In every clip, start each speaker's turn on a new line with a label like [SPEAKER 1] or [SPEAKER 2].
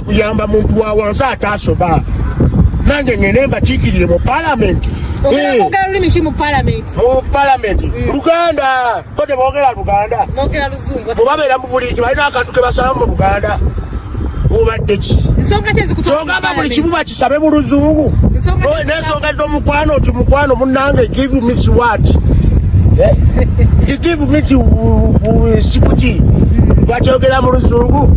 [SPEAKER 1] kuyamba muntu wa wansi ataasoba nange ngende mbakiikirire mu palamenti eh.
[SPEAKER 2] mupalamenti
[SPEAKER 1] mm. luganda ko tebogera luganda
[SPEAKER 2] obabeera mu buliki balina
[SPEAKER 1] akantu ke basalamu mu luganda obadde ki kyogamba
[SPEAKER 2] buli kimu bakisabe
[SPEAKER 1] mu luzungu n'ensonga z'omukwano nti mukwano munange give me what eh? give me sikuki bakyogera mu luzungu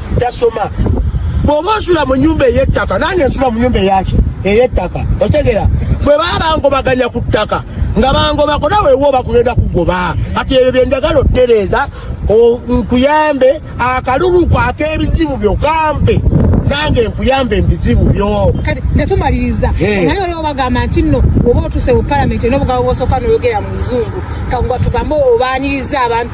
[SPEAKER 1] tasoma bwoba osula mu nyumba eyettaka nange nsula mu nyumba eyaki eyettaka otegera bwe baba bangobaganya ku ttaka nga bangobako nawe wo bakugenda kugoba kati ebyo byenjagala ottereeza nkuyambe akalulu kwaka ebizibu byo kampe nange nkuyambe ebizibu byo kati netumaliriza
[SPEAKER 2] naye olwo bagamba nti nno oba otuse mu palamenti nobugabo bwosooka noyogera mu luzungu kagwa tugambe obaaniriza abantu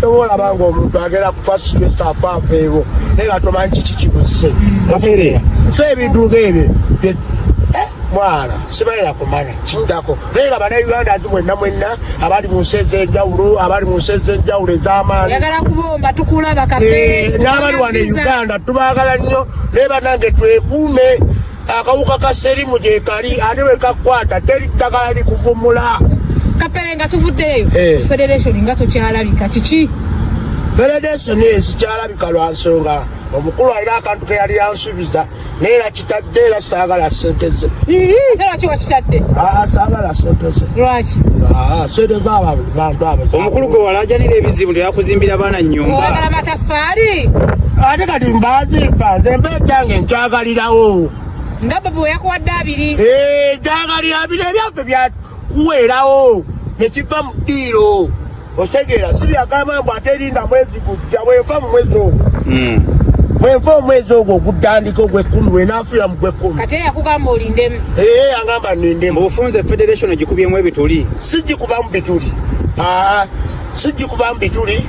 [SPEAKER 1] kyoba olaba nga omuntu agenda kufa situesi afa aveewo naye nga tomanyi kiki kibuze so ebiduga ebyo eh, mwana sibalina kumanya kiddako naye nga bana uganda nti mwenna mwenna abali mu nsi ez'enjawulo abali mu nsi ez'enjawulo ez'amaani eh,
[SPEAKER 2] n'abali wano e
[SPEAKER 1] uganda tubaagala nnyo naye banange twekuume akawuka ka serimu gyekali ate wekakwata teri ddagala likuvumula kapere nga
[SPEAKER 2] tuvuddeyo eh. federation nga tokyalabika kiki federation
[SPEAKER 1] ezikyalabika lwa nsonga omukulu alina akantu ke yali yansubiza naye era kitadde era saagala sente ze lwaki wakitadde
[SPEAKER 2] ah, saagala sente
[SPEAKER 1] ze lwaki ah,
[SPEAKER 2] sente
[SPEAKER 1] zabantu abo omukulu gwe walajanira
[SPEAKER 3] ebizibu teyakuzimbira baana nyumba Safari.
[SPEAKER 2] Ate kati
[SPEAKER 1] mbazi mbaze mbe kyange nkyagalirawo. Nga baba
[SPEAKER 2] weyakuwadde abiri. Eh, kyagalira
[SPEAKER 1] abiri ebyaffe bya kuweerawo ne kiva mu ddiiro. Otegeera si byagamba mbu ate erinda mwezi gujja bwenfa mu mwezi ogwo. Hmm. Bwenfa omwezi ogwo ogutandika ogw'ekkumi bwenaafuya mu gw'ekkumi. Kati era yakugamba olindemu.
[SPEAKER 2] Eh, angamba nindemu.
[SPEAKER 1] Mu bufunze federation
[SPEAKER 3] gikubyemu ebituli. Si gikubamu bituli.
[SPEAKER 1] Ah, si gikubamu bituli.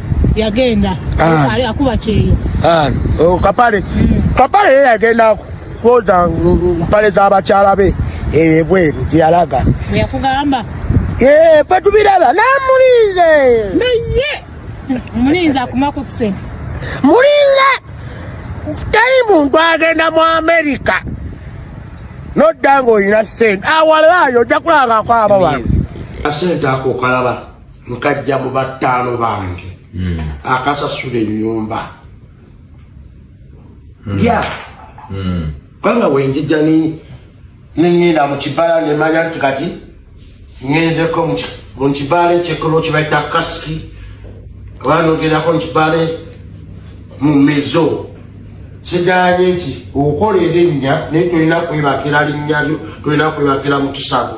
[SPEAKER 2] yagenda ah. ali akuba kyeyo ah, oh, kapale hmm.
[SPEAKER 1] kapale yeye yagenda kwoza mpale za bakyala be ebweru eh, gyeyalaga yakugamba
[SPEAKER 2] eh, fe
[SPEAKER 1] tubiraba namulinze naye
[SPEAKER 2] mulinze akumako kusente mulinze
[SPEAKER 1] teri muntu agenda mu amerika nodda nga olina sente awalaayo ojja kulaba ngakwaba wano asente ako okalaba nkajja mu battaano bange hmm. akasasula ennyumba hmm. ya hmm. kubanga wenjija neŋŋenda mu kibala nemanya nti kati ŋŋendeko mu kibala ekyekolo kibaita kasiki oba nogendako mu kibala mu mezo siganye nti okola erinnya naye tolina kwebakira linnya lyo tolina kwebakira mu kisago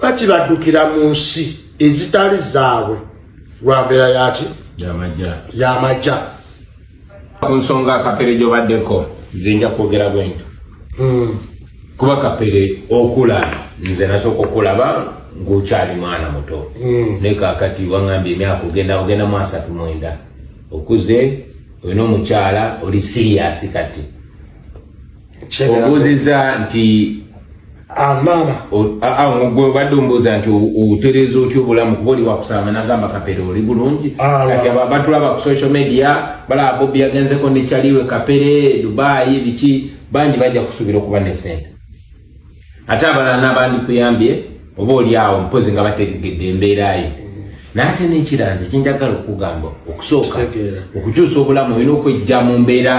[SPEAKER 1] lwaki baddukira mu nsi ezitali zaabwe lwa mbeera yaki yamajja
[SPEAKER 4] ku nsonga kapere gyobaddeko nze nja kwogera bwento hmm. kuba kapere okula nze nasooka okulaba ngaokyali mwana muto hmm. naye kakati wangambye emyaka ogenda ogenda mu asatu mwenda okuze olina omukyala oli siriyasi kati obuuziza nti amama omugwe obadde ombuuza nti otereeza otya obulamu kuba oli wakusanga nagamba kapere oli bulungi kati abo abatulaba ku social media balaba bobi yagenzeko ne caliwe kapere dubayi biki bangi bajja kusuubira okuba ne sente ate abalala nabandikuyambye oba oli awo mpozi nga bategegedde embeerayo naate nekiranze kyenjagala okugamba okusooka okukyusa obulamu olina okwejja mu mbeera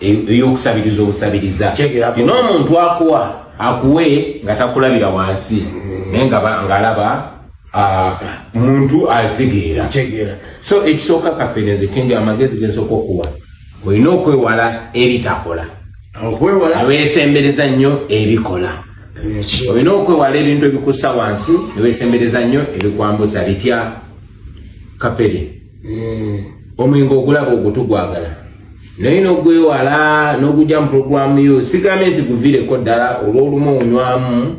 [SPEAKER 4] eyokusabiriza obusabiriza ina omuntu akuwa akuwe nga takulabira wansi naye ngaalaba muntu ategeera so ekisooka kafeneze kenge amagezi gensooka okuwa olina okwewala ebitakola aweesembereza nnyo ebikola olina okwewala ebintu ebikussa wansi neweesembereza nnyo ebikwambusa bitya kapere mm. omwenge ogulaba ogutugwagala naye nogwewala nogujja mu puroguramu yo sigambye nti guvireko ddala olwolumu onywamu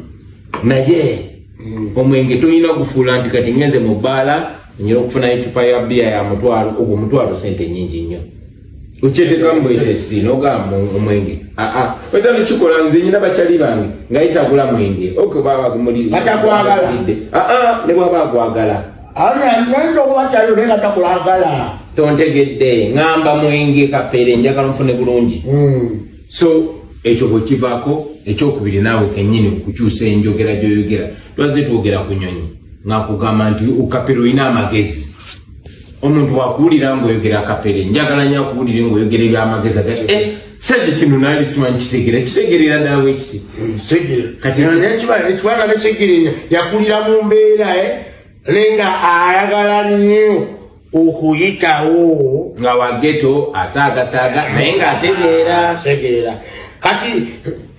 [SPEAKER 4] naye mm. omwenge tolina gufuula nti kati ngenze mu bbaala nyina okufuna ecupa ya bbiya ya mutwalo ogwo omutwalo sente nyingi nnyo okyetekamu bwetesi nogamba omwenge aa oza nokikola nze nyina bakyali bange nga yitagula mwenge okyo baba gumulidde aa ne bwaba agwagala tontegedde ŋamba mwenge kapere njagala nfune bulungi hmm. so ekyo bwekivako ekyokubiri naawe kenyini okukyusa enjogera gyoyogera twaze twogera ku nyonyi ngakugamba nti ukapere olina amagezi omuntu wakuwulira ngaoyogera kapere njagala nyo akuwulire ngaoyogera ebyamagezi agati eh, sente kino nali simanyi kitegera kitegerera daawe ekiti katiekibanga
[SPEAKER 1] nesegerenya yakulira mu mbeera e naye nga ayagala nnyo okuyitawo nga wageto
[SPEAKER 4] asaagasaaga naye nga ategeera segerera kati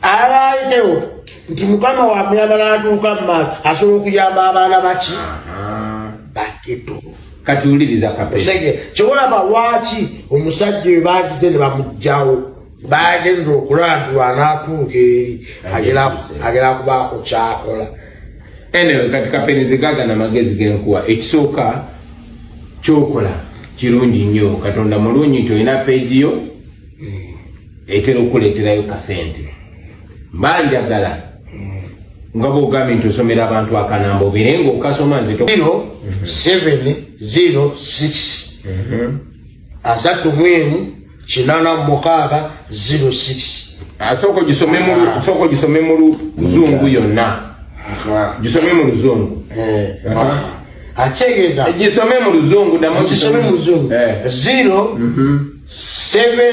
[SPEAKER 1] alayitewo nti mukama wamuyamba natuuka mu maaso asobola okuyamba abaana baki bageto kati
[SPEAKER 4] wuliriza kapesege kyewolaba lwaki
[SPEAKER 1] omusajja oyo bagize ne bamugjawo bagenza okulandulwa anatuuka eri agera kubaako kyakola enewe
[SPEAKER 4] kati kapenize gaga na magezi genkuwa ekisooka kyokola kirungi nnyo katonda mulungi nti olina pegiyo hmm. etera okukuleterayo kasente mbanjagala nga bwogambye nti osomera abantu akanamba obeere nga okasoma nzito706
[SPEAKER 1] asattu mwemu kinana mukaaga 06 sooka
[SPEAKER 4] gisome mu luzungu yonna gisome mu luzungu eh, akyegeza gisome mu luzungu damu
[SPEAKER 1] gisome mu luzungu 07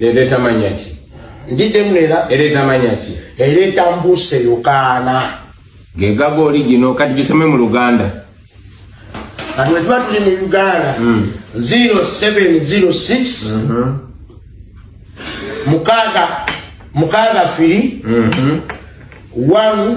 [SPEAKER 1] ereeta manya
[SPEAKER 4] ki njiddemu
[SPEAKER 1] era ereeta manya ki
[SPEAKER 4] ereeta mbuuse
[SPEAKER 1] yokaana gegaga
[SPEAKER 4] oli gino kati gisome mu luganda
[SPEAKER 1] kati wetuba tuli mu uganda 0706 hmm. mhm. mukaaga mukaaga firi 1 mhm.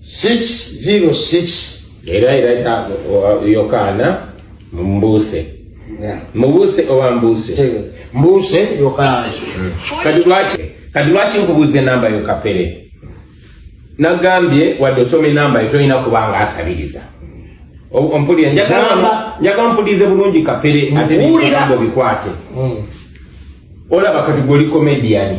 [SPEAKER 1] 606 era era
[SPEAKER 4] yokaana mumbuuse mubuuse oba mbuuse mbuuse yokaana
[SPEAKER 1] hmm. kati lwaki
[SPEAKER 4] kati lwaki nkubuuza enamba yo kapere nagambye wadde osoma enamba yo tolina kubanga asabiriza ompulira njagala mpulize bulungi kapere ate bikwate hmm. olaba kati gwe oli komediyani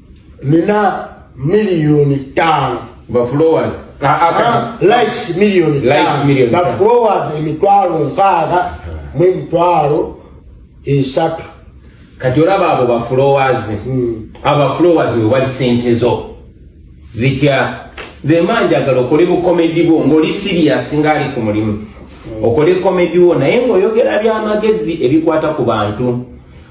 [SPEAKER 1] nina miliyoni ttaano bafollowers likes miliyoni ttaano bafollowers emitwalo nkaaga mu emitwalo esatu kati
[SPEAKER 4] olaba abo bafollowers hmm. abo bafollowers wewali sente zo zitya zemba njagala okole bukomedi bwo ngaoli siriyasi ngaali ku mulimu hmm. okole komedi wo naye ngaoyogera byamagezi ebikwata ku bantu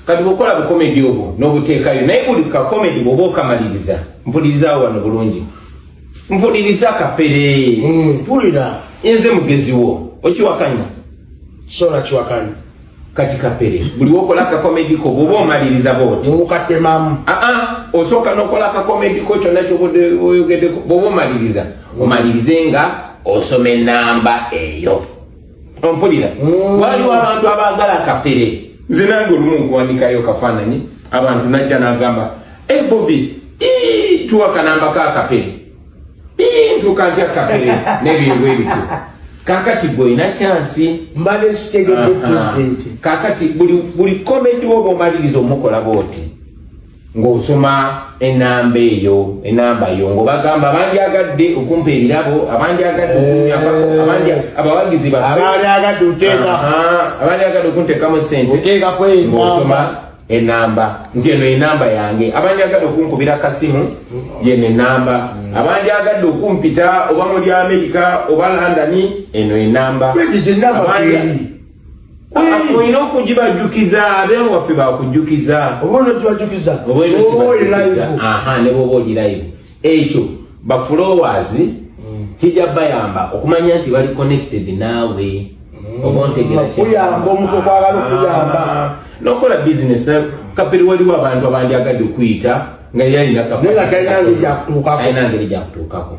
[SPEAKER 4] kati bwokola bukomedi obwo nobuteekayo naye buli kakomedi bwoba okamaliriza mpuliriza wano bulungi mpuliriza kapere mm, mpulira
[SPEAKER 1] nze mugeziwo
[SPEAKER 4] okiwakanya sola
[SPEAKER 1] kiwakanya kati kapere
[SPEAKER 4] buli wokola akakomediko bwoba omaliriza boti nobukatemamu aa
[SPEAKER 1] osooka
[SPEAKER 4] nokola akakomediko kyonna kyoyogedeko bwoba omaliriza omalirize nga osoma enamba eyo ompulira mm. waliwo abantu abaagala kapere nze nange olumu nkuwandikayo kafaananyi abantu najja nagamba e eh, bobi tuwa kanamba ka kapere ntuka ntya kapere nebintu ebityo kakati gwe olina kyansi mbale
[SPEAKER 1] sitegedde kakati
[SPEAKER 4] buli komedi woba omaliriza omukola booti ng'osoma enamba eyo enamba yo ng'obagamba abandyagadde okumpa ebirabo abandyagadde okunyambako abawagizi baabandyagadde oteeka abandyagadde okunteekamu sente oteeka kweng'osoma enamba nti eno enamba yange abandyagadde okunkubira kasimu yeno enamba abandyagadde okumpita oba muli amerika oba landani eno enamba olina okugibajjukiza abe waffe bakujjukiza nebwoba oli live ekyo bafulowers mm. kijja bayamba okumanya nti bali connected naawe mm. obontegerakuyamba
[SPEAKER 1] omuntu okwagala okuyamba ah.
[SPEAKER 4] nokola bisiness eh, kapere waliwo abantu abandyagadde okuyita nga yalina kapere alina ngeri gyakutuukako